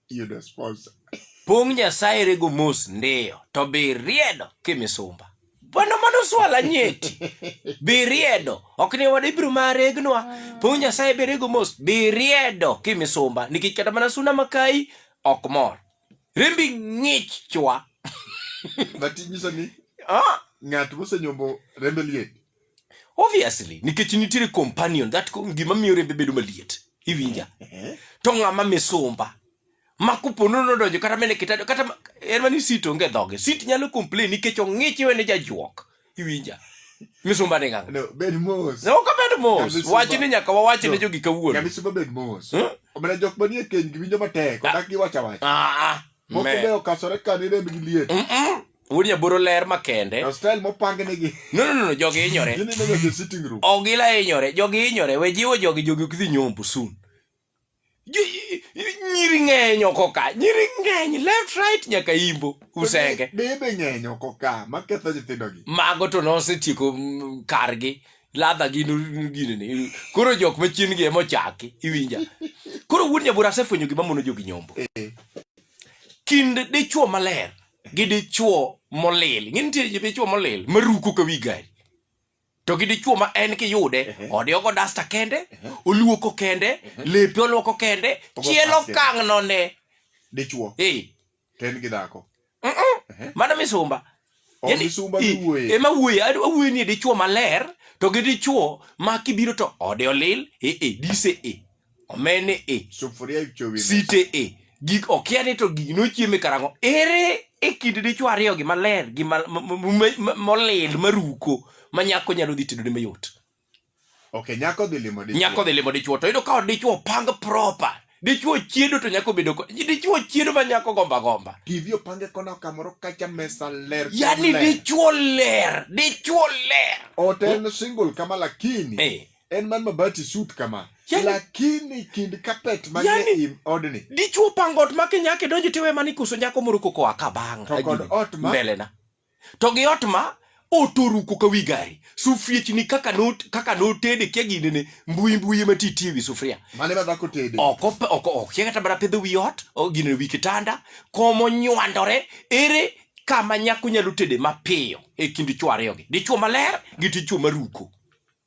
yudo sponsor. Pong' Nyasaye rego mos ndiyo, to biriedo kimisumba. Bwana mano swala nyeti. Biriedo. Ok ni wadi biro maregnwa. Pong' Nyasaye birego mos, biriedo kimisumba. Nikech kata mana suna makai ok mor. Rembi ng'ich chwa. But inyiso ni Ah, ng'at mosenyombo rembe liet. obviously nikech nitiere companion that ko- gima miyo rembe bedo maliet iwinja to ng'ama misumba ma kupono nodonjo kata mene kitado kata ma- en mani sit onge dhoge sit nyalo complain nikech ong'ich iwene jajuok iwinja misumba ni ng'anga No, bed mos. ne ok abed mos Nyamisumba- wach ni nyaka wawach ne No. jogi kawuono Nyamisumba bed mos. Hmm? Omena jok manie keny gi winjo matek, odak gi wacha wacha. Ah, ah. Moko Me. be okachore ka ni remb gi liet. Mm-mm. wuod nyaboro ler makende Na style mopang negi. no no no, no jogi hinyore Gini nega the sitting room. ogila hinyore jogi hinyore we jiwo jogi jogi ok dhi nyombo soon Jo- i- i- nyiri ng'eny oko ka nyiri ng'eny left right nyaka imbo usenge Bebe ng'eny oko ka maketho nyithindogi. mago to nosetieko mm, kargi ladha gi nu- gini ni koro jok machien gi emochaki iwinja koro wuod nyabura asefwenyo gima mono jogi nyombo kind dichuo maler gi dichuo molil ng'e nitie ji dichuo molil maruko ka wi gari to gi dichuo ma en kiyude ode ogo dasta kende oluoko kende lepe oluoko kende Ogo chielo pasi. kang'none dichuo Eh, to en gi dhako mano misumba ema wuoye awuoye ni dichuo maler to gi dichuo ma kibiro to ode olil ee e, dise e omene e site e gik okia ni to gigi nochieme karang'o ere e kind dichuo ariyo gi maler gi molil maruko ma nyako nyalo dhi tedone mayot Okay, nyako dhi limo dichwo. Nyako dhi limo dichwo to yudo ka dichwo pang proper. Dichwo chiedo to nyako bedo ko. Dichwo chiedo ma nyako gomba gomba. TV opange kona kamoro kacha mesa ler. Yaani dichwo ler, dichwo ler. Oten single kama lakini. Hey. Eh. En man mabati suit kama. Yani, lakini kind kapet mane yani, im odni. Dichwo pango ot ma kinyake donjo tiwe mani kuso nyako moro koko akabanga. To kod ot ma. Mbelena. to gi ot ma otoruko ka wi gari sufriechni kaka not kaka notede kia gine ne mbui mbui ma titie wi sufria mane ma dhako tede oko oko okia kata mana pedho wi ot o gine wi kitanda komo nywandore ere kama nyako nyalo tede mapiyo e kind chwo ariyogi dichwo maler gi dichwo maruko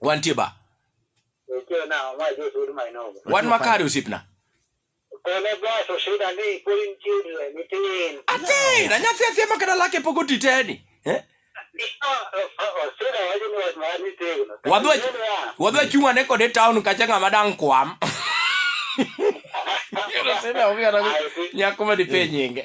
wantie ba wan makare osiepna atin anyathi athia ma kata lake pok oti teni eh? wadwa chung' ane kode town kacha ng'ama dang' kwam nyako ma dipe nyinge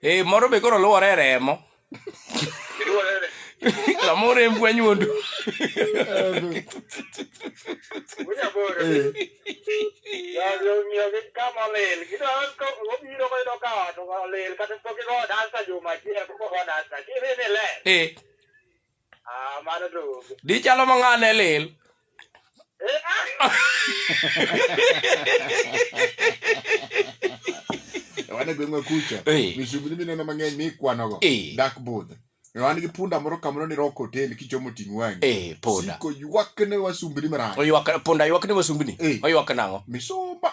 Eh, moro be koro luwore e remo. L'amore è un guagnudo. Eh. Ah, mano to onge. Di chalo ma ng'ane lil. Eh, ah, wan e gweng'wa kucha Eh. misumbni mineno mang'eny mikwanogo Eh. dak budho wan gi punda moro kamoro ni rock hotel kichomo ting' wang'i Eh, punda. siko ywakne wasumbni marach Oywak punda ywak ne wasumbni. Eh. Oywak nang'o? misumba